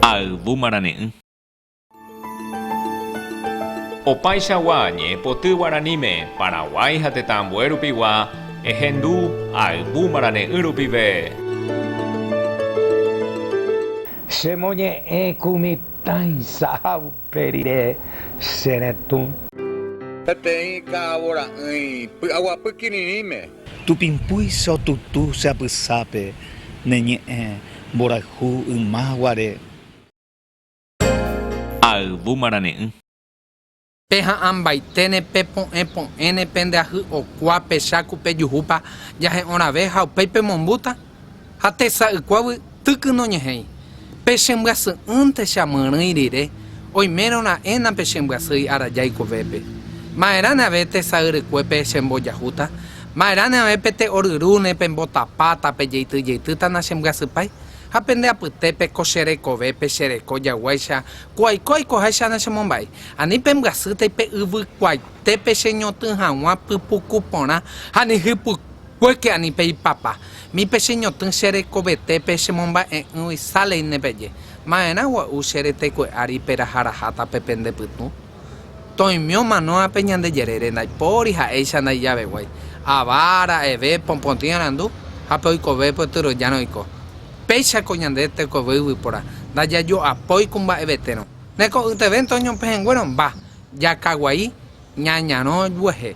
Ha yvu marane'ỹ. Opaichagua ñe'ẽpoty guaraníme Paraguái ha tetã ambue rupigua ehendu ha yvu marane'ỹ rupive. Chemoñe'ẽ ku mitãicha ha Pe rire, che retũ. Peteĩ ka'avo ra'ỹi py'aguapy kirirĩme. Tupimpúi che otutu che apysápe ne ñe'ẽ mborayhu yma guare. Ha ayvu marane'ỹ. Pe ha'ãmbaiténe, pe po'ẽ po'ẽne, pende ahy okua, pecha ku pejuhúpa jahe'õ rave ha upéi pemombúta? Ha tesaykuágui tyky noñe'ẽi, Pechembyasý'ỹnte che amyrỹi rire, oimérõ ra'éna pechembyasýi araja ikovépe. Ma'erãne ave tesayrekuépe chembojahúta? Ma'erãne ave pete oryrúne pembotapáta pejeityjeitýta nachembyasypái? Ha pende apytépe ko che rekovépe chereko jaguáicha ku aiko aikoháicha nachemomba'éi? Ani pembyasýtai pe yvykuaitépe cheñotỹ hag̃ua pypuku porã ha ni hypykuéra? Yke ani pe ipapa, mi pe che ñotỹ che rekovete pe che momba'e'ỹgui Salley ne peje, Ma'erã gua'u che reteku'e ári peraha raháta pe pende pytũ? Toimio manóa pe ñande jerére ndaipóri ha'éicha ndaijaveguái, ava, ra'eve, popõtĩ arandu, ha pe oikove pe otyrõjárõ oiko. Péicha ko ñande tekove yvypóra, ndajajo'apói ku mba'evetérõ. Ne ko'yteve ntoño pehẽnguérõ, mba, jakaguai, ñañarõ juehe.